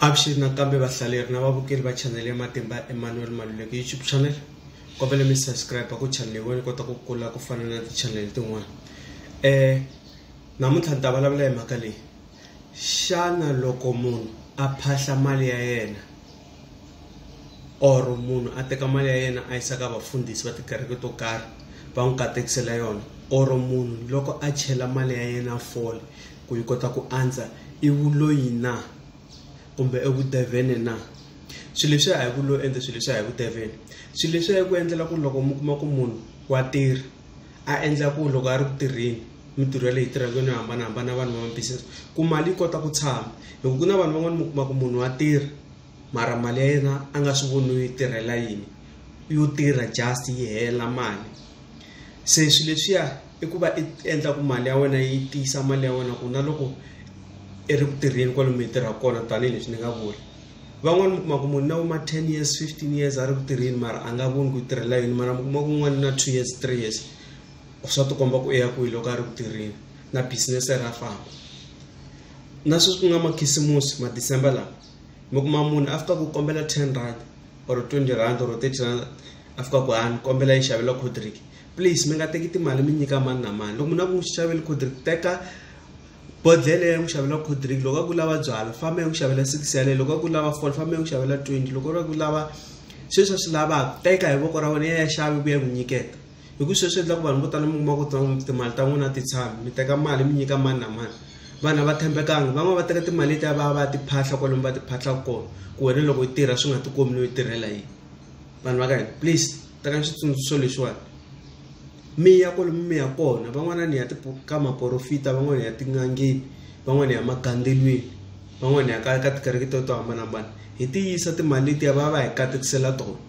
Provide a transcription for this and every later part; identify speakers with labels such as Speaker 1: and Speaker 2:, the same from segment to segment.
Speaker 1: avuxeni nakambe vahlaleri na vavukeli va chanele ya matimba emmanuel maluleke youtube channel kombele mi subscribe ku chanele wena kota ku kula ku fana na tichanele tin'wana um namuntlha ni ta vulavula hi mhaka leyi xana loko munhu a phahla mali ya yena or munhu a teka mali ya yena a yisa ka vafundhisi va tikereke to karhi va n'wi katekisela yona or munhu loko a chela mali ya yena fole ku yi kota ku andza i vuloyi na kumbe i vudevhene na swilo leswi a hi ku lo endla swilo leswi a hi vudevhene swilo leswi a hi ku endlela ku loko mi kuma ku munhu wa tirha a endla ku loko a ri ku tirheni mintirho ya leyi tirhaka yo hambanahambana vanhu va business ku mali yi kota ku tshama hi ku ku na vanhu van'wani mi kuma ku munhu wa tirha mara mali ya yena a nga swi voni yi tirhela yini yo tirha just yi hela mali se swi leswiya. i ku va i endla ku mali ya wena yi tiyisa mali ya wena ku na loko i ri ku tirheni kwale mi tirha kona tanihileswi ni nga vula van'wani mi kuma ku munhu na vo ma ten years fifteen years a ri ku tirheni mara a nga voni ku yi tirhela yini mara mi kuma ku n'wani na two years three years swa ti komba ku i ya kwihi loko a ri ku tirheni na business ra famba na sweswi ku nga makhisimusi ma december lawa mi kuma munhu a fika ku kombela ten rand or twenty rand or thirty rand a fika ku a ni kombela yi xavela coldrink. please mi nga teki timali mi nyika mani na mani loko munhu a ku n'wi xaveli codrick teka bodlele ya n'wi xavela codrick loko a ku lava byala famba ya n'wi xavela six yaleyo loko a ku lava fol famba ya n'wi xavela twenty loko a ku lava sweswi a swi lavaka teka hi voko ra wena ya ya xavi ku ya n'wi nyiketa hi ku sweswi endla ku vanhu vo tala mi kuma ku timali ta n'wina ti tshami mi teka mali mi nyika mani na mani vanhu a va tshembekanga van'wana va teka timali letiya va ya va ya tiphahla kwalomu va tiphahla kona ku wena loko yi tirha swi nga ti komi no yi tirhela yini vanhu va ka hina please tekani xitsundzuxo lexiwani mi ya kwale mi ya kona van'wana ni ya ka maporofita van'wana ya tin'angeni van'wana ya magandzelweni van'wana ya ka ka tikereke to to hambanahambana hi ti yisa timali letiya va va hi katekisela tona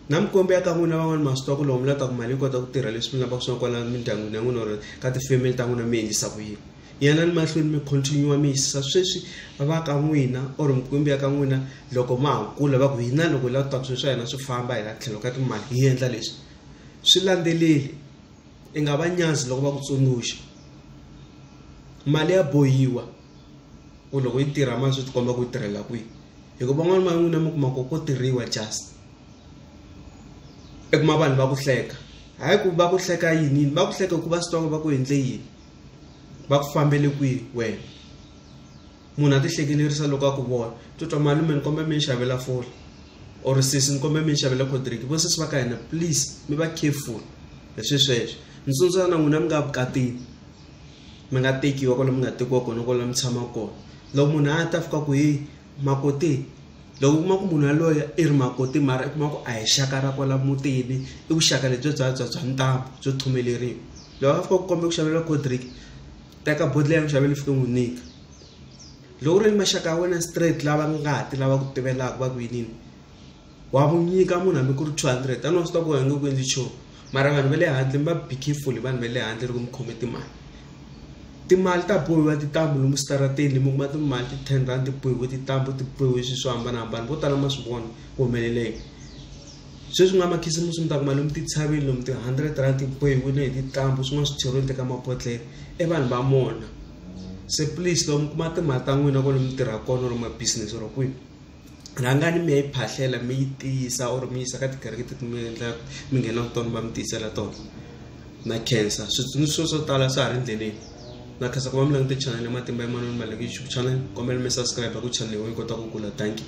Speaker 1: na mikombe ya ka n'wina van'wana ma swi twa ku lomu la ta ku mali yi kota ku tirha leswi mi lavaka swona kwala mindyangwini ya n'wina or ka tifemeli ta n'wina mi endlisa ku yini Yanani mahlweni mi continue mi yisisa sweswi va ka n'wina or mikwembu ya ka n'wina loko ma ha kula va ku hina loko hi lava ta swilo swa hina swi famba hi la tlhelo ka timali hi endla leswi swi landzeleli i nga va nyazi loko va ku tsundzuxa mali ya bohiwa ku loko yi tirha ma swi tikomba ku yi tirhela kwihi hikuva van'wana va n'wina mi kuma ku ko tirhiwa just i kuma vanhu va ku hleka hayi ku va ku hleka yini yini va ku hleka hikuva swi tiva ku va ku endle yini. va ku fambele kwihi wena munhu a ti hlekelerisa loko a ku vona titwa malume ni kombela mi ni xavela foni or sesi ni kombela mi ni xavela codrick vo sesi va ka hina please mi va careful hi swi sweswo ni tsundzuka na n'wina mi nga vukatini mi nga tekiwa kwale mi nga tekiwa kona kwala mi tshama kona loko munhu a ta fika ku hi makoti loko u kuma ku munhu yaloye i ri makoti mara i kuma ku a hi xaka ra kwala mutini i vuxaka lebyi bya bya bya ntambu byo thumeleriwa. loko a fika ku kombe ku xaveriwa cold drink teka bodle ya ku xavela fike n'wi nyika loko u ri ni maxaka ya wena straight lava ngati lava ku tivelaka va ku yinini wa ku nyika munhu hambi ku ri two hundred a ni wa swi tiva ku wena nge ku endli nchumu mara vanhu va le handle mi va be careful hi vanhu va le handle loko mi khome timali timali ta bohiwa tintambu lomu switarateni mi kuma timali ti ten rhandi ti bohiwe tintambu ti bohiwe swilo swo hambanahambana vo tala ma swi vona ku humelela yini. sweswi nga makhisimusi mi ta kuma lomu titshaveni lomu ti-hundred rand ti bohiwile hi tintambhu swin'wana swi cheriweni teka mabodhlele i vanhu va mona se please loko mi kuma timali ta n'wina ko lomu tirha kona or mabusiness or kwihi rhangani mi ya yi phahlela mi yi tiyisa or mi yisa ka tikereke teti mi endla mi nghenaka tona va mi tiyisela tona na khensa switsundzuxo swo tala swa ha ri endleleni na khensa ku va mi langute channel ya matimba emanoni maleki youtube channel kombela mi subscribe ku channel yi kota ku kula thank you